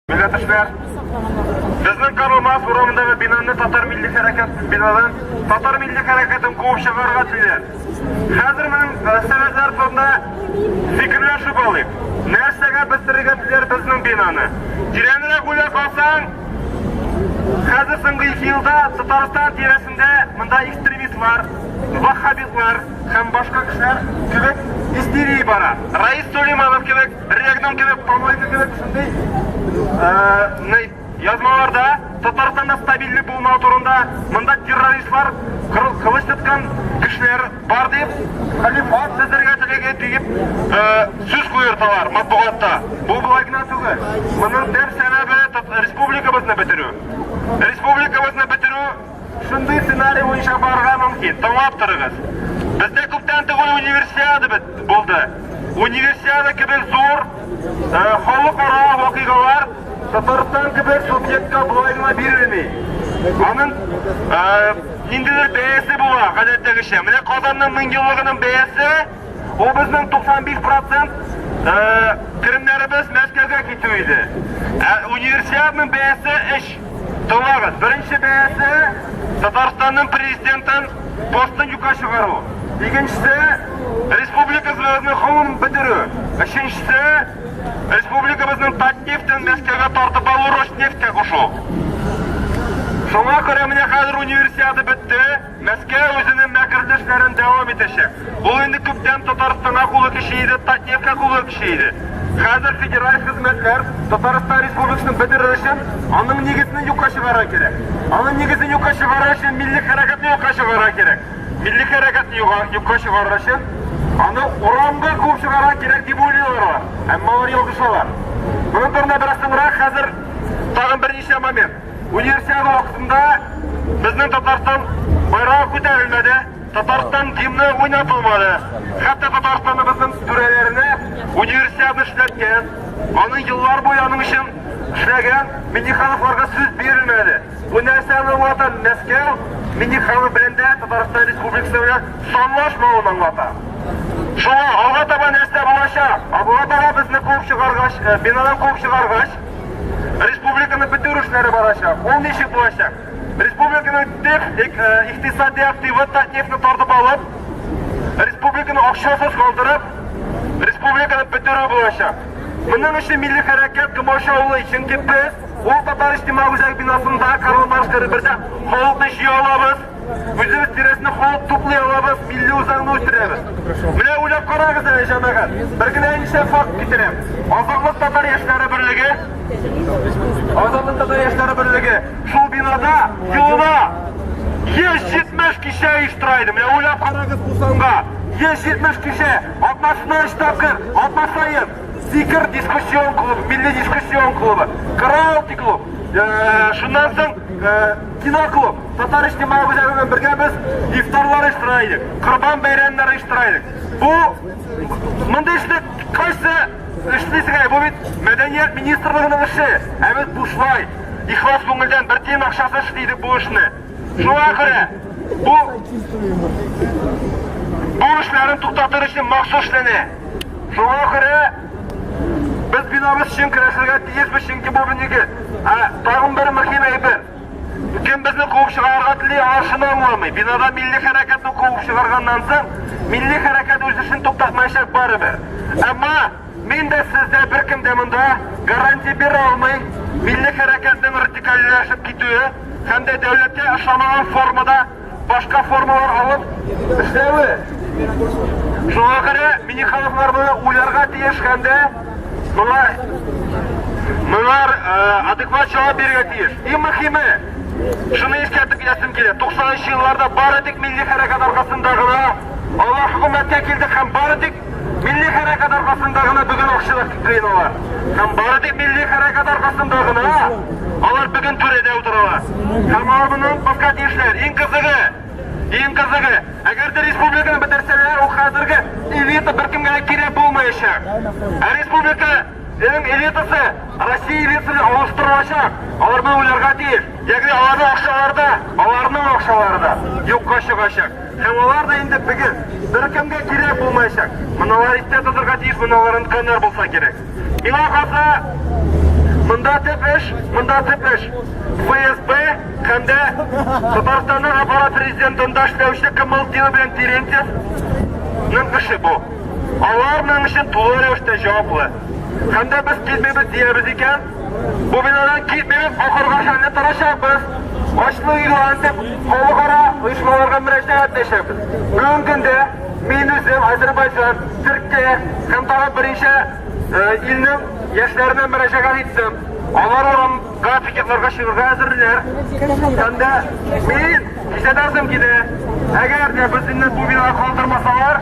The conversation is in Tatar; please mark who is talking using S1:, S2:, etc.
S1: Милләтешләр, безнең Карумас урамындагы бинаны татар милли хәрәкәт бинадан татар милли хәрәкәтен куып чыгарга телиләр. Хәзер мин мәсьәләләр турында фикерләшеп алыйк. Нәрсәгә бетерергә диләр безнең бинаны? Тирәнрәк уйлап алсаң, хәзер соңгы ике елда Татарстан тирәсендә монда экстремистлар, ваххабитлар һәм башка кешеләр кебек истерия бара. Раис Сулейманов кебек, Регнум кебек, Помойка кебек шундый Язмаларда Татарстанда стабильлек булмау турында, монда террористлар, кылыч тоткан көчләр бар дип, Хәлим ат сездергә телеге диеп э, сүз куерталар матбугатта. Бу болай гына түгел. Моның төп сәбәбе республикабызны бетерү. Республикабызны бетерү Шундый сценарий буенча барырга мөмкин. Тыңлап торыгыз. Бездә күптән түгел универсиада бит булды. Универсиада кебек зур э, халыкара вакыйгалар Татарстан кебек субъектка болай гына бирелми. Аның э, ниндидер бәясе була, гадәттәгечә. Менә Казанның меңъеллыгының бәясе ул безнең 95% керемнәребез Мәскәүгә китү иде. Ә универсиаданың бәясе 3 Тыңлагыз, беренче бәясе Татарстанның президентын постын юкка чыгару. Икенчесе республикабызны ховым бетерү. Өченчесе республикабызның Татнефтен Мәскәүгә тартып алу Роснефтькә кушу. Шуңа күрә менә хәзер универсиада бетте. Мәскәү үзенең мәкерле эшләрен дәвам итәчәк. Ул инде күптән Татарстанга кулы тиши иде, Татнефтька кулы тиши иде. Хәзер федераль хезмәтләр Татарстан Республикасын бетерер өчен аның нигезне юкка чыгарырга кирәк. Аның нигезен юкка чыгарыр өчен милли хәрәкәтне юкка чыгарырга кирәк. Милли хәрәкәтне юкка чыгарыр өчен аны урамга куып чыгарырга кирәк дип уйлыйлар алар. Әмма алар ялгышалар. Моның турында бераз соңрак, хәзер тагын берничә момент. Универсиада вакытында безнең Татарстан байрагы күтәрелмәде, Татарстан гимны уйнатылмады. Хәтта Татарстаныбызның түрәләренә универсиада эшләткән, аны еллар буе аның өчен эшләгән Миннехановларга сүз бирелмәде. Бу нәрсәне аңлата Мәскәү Миннеханов белән дә Татарстан Республикасына санлашмавын аңлата. Шуңа алга таба нәрсә булачак? Алга таба безне куып чыгаргач, бинадан куып чыгаргач, Республиканы бетерү эшләре барачак. Ул ничек булачак? Республиканы төп икътисади активы Татнефтьне тартып алып, республиканы акчасыз калдырып, республиканы бетерү булачак. Моның өчен милли хәрәкәт комачаулый, чөнки без ул татар иҗтимагый үзәк бинасында Карл Маркс бирдә халыкны җыя алабыз. Үзебез тирәсенә халык туплый алабыз, милли үзаңны үстерәбез. Менә уйлап карагыз әле, җәмәгать. Бер генә исә факт китерәм. Азатлык татар яшьләре берлеге. Азатлык татар яшьләре берлеге. Шул бинада елына 170 кичә оештыра иде. Менә уйлап карагыз бу санга. 170 кичә, атнасына 3 тапкыр, атна саен. Сикер дискуссион клуб, милли дискуссион клубы. Караоке клуб. Э, шуннан соң э, Киноклуб, татар иҗтимагый үзәге белән бергә без ифтарлар оештыра идек, корбан бәйрәмнәре оештыра идек. Бу мондый эшне кайсы эшлисегә, бу бит мәдәният министрлыгының эше, ә без бушлай, ихлас күңелдән бер тиен акчасы эшли идек бу эшне. Шуңа күрә бу бу эшләрен туктатыр өчен махсус эшләнә. Шуңа күрә Без Беларусь өчен көрәшергә тиешбез, чөнки бу бинеге. Ә тагын бер мөһим әйбер. Кем безне куып чыгарырга тели, алар шуны аңламый. Бинада милли хәрәкәтне куып чыгарганнан соң, милли хәрәкәт үз эшен туктатмаячак барыбер. Әмма мин дә, сез дә, беркем дә монда гарантия бирә алмый, милли хәрәкәтнең радикальләшеп китүе һәм дә дәүләткә ошамаган формада башка формалар алып эшләве. Шуңа күрә мини халыклар моны уйларга тиеш һәм дә моңа Мыйлар э, адекват жауап беруге тиеш. Иң мөхиме, шуны искәртеп китәсем килә. 90 елларда бары тик милли хәрәкәт аркасында гына алар хөкүмәткә килдек һәм бары тик Милли хәрәкәт аркасында гына бүген акчалар күпләйен алар. Һәм бары тик милли хәрәкәт аркасында гына алар бүген түрәдә утыралар. Һәм алар моны онытмаска тиешләр. Иң кызыгы, иң кызыгы, әгәр дә республиканы бетерсәләр, ул хәзерге элита беркемгә дә кирәк булмаячак. Ә республиканың элитасы Россия элитасына алыштырылачак. Алар моны уйларга тиеш. Ягъни аларның акчалары да, аларның акчалары да юкка чыгачак. Һәм алар да инде бөген беркемгә кирәк булмаячак. Моналар истә тотырга тиеш, моналар онытканнар булса кирәк. Миңа калса, монда төп эш, монда төп эш. ФСБ һәм дә Татарстанның аппарат президентында эшләүче Кымыл Тио белән Терентьев ның эше бу. Алар моның өчен тулы рәвештә җаваплы. Һәм дә без килмибез диябез икән, Бу бинадан китмибез, ахырга хәлне торачакбыз. Ачлы өйгә антип халыкара оешмаларга мөрәҗәгать итәчәкбез. Бүгенге көндә мин үзем Азербайҗан, Төркия һәм тагын берничә илнең яшьләренә мөрәҗәгать иттем. Алар урамга пикетларга чыгарга әзерләр. Һәм дә мин кичәдән соң килә. Әгәр дә безне бу бинага калдырмасалар,